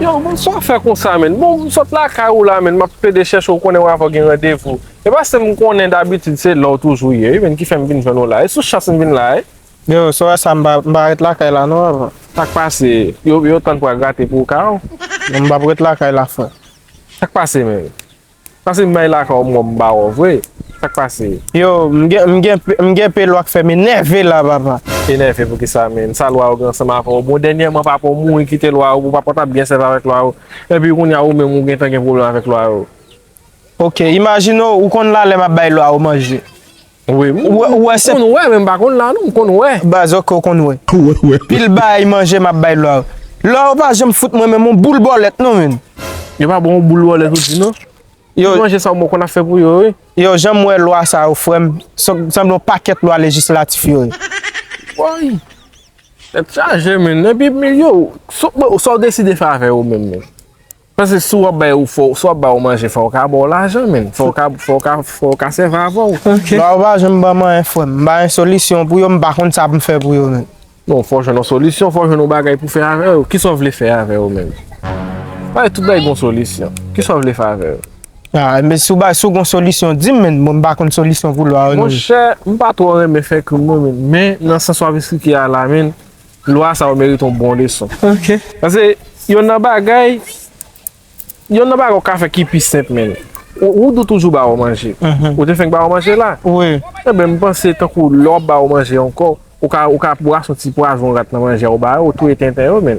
Yow man sa w fè konsa menn bon m sot lakay ou la menn map plede chèche w konnen w avè w gen randevou e paske m konnen dabitid se la w toujou ye wi menn ki fè m vin jwenn w la e sou chans m vin la e. Yow sora sa m pa ret lakay la non avan. Sak pase yo tann pral grate pou w ka w. Non m pap ret lakay la frè. Sak pase menn. Pase bay laka w mwen ba w vre sak pase. Yo m gen pé lwa k fè m enève la papa. Enève poukisa menn sa lwa yo gen ansanm avè w bon dènyèman papa w mouri kite lwa yo pou papa w tap byen sèvi avèk lwa yo epi kounya ou menm ou gentan gen pwoblèm avèk lwa yo. Ok imajine w konn la lè map bay lwa yo manje Wi m konn wè men m pa konn la non m konn wè. Baz ok ou konn wè. Pil bay manje map bay lwa yo. Lwa yo pa janm fout mwen menm on boul bòlèt non menn. Yo pa ba w on boul bòlèt ou di non. Ti manje sa ou bon konn ap fè pou yo wi. Yow janm wè lwa sa yo frèm sanble yon pakèt lwa lejislatif yo ye. Woy tèt chaje menn epi yow sa w deside fè avè yo menm menm. Paske si wap bay ou fò, si wap bay ou manje fò ou ka ba ou lajan menn, fò ou ka, fò ou ka, fò ou ka sèvi avè ou. Ok. Lè ou pa janm banm anyen frè m, m pa gen solisyon pou yo, m pa konn sa pou m fè pou yo menn. Bon, fò ou jwenn yon solisyon, fò ou jwenn yon bagay pou fè avè yo. Kisa ou vle fè avè yo menm? Bagay, tout bagay gen yon solisyon. Kisa ou vle fè avè yo? A, men si w bay, si w gen yon solisyon di m menn, bon m pa konn solisyon pou lwa yo non. Monchè, m pa twò renmen fè krim non menn, men nan sans wap esplike a la menn. Lwa sa yo merite yon bon leson. Pase yonn nan bagay, yonn nan bagay ou ka fè ki pi senp menn. Woudou toujou ba ou manje. Ou te fenk ba ou manje la. Enben m panse tankou lè w ap ba ou manje ankò, ou ka ou ka bwase yon ti pwazon rat nan manje a ou ba yo, ou touye tenten yo menn.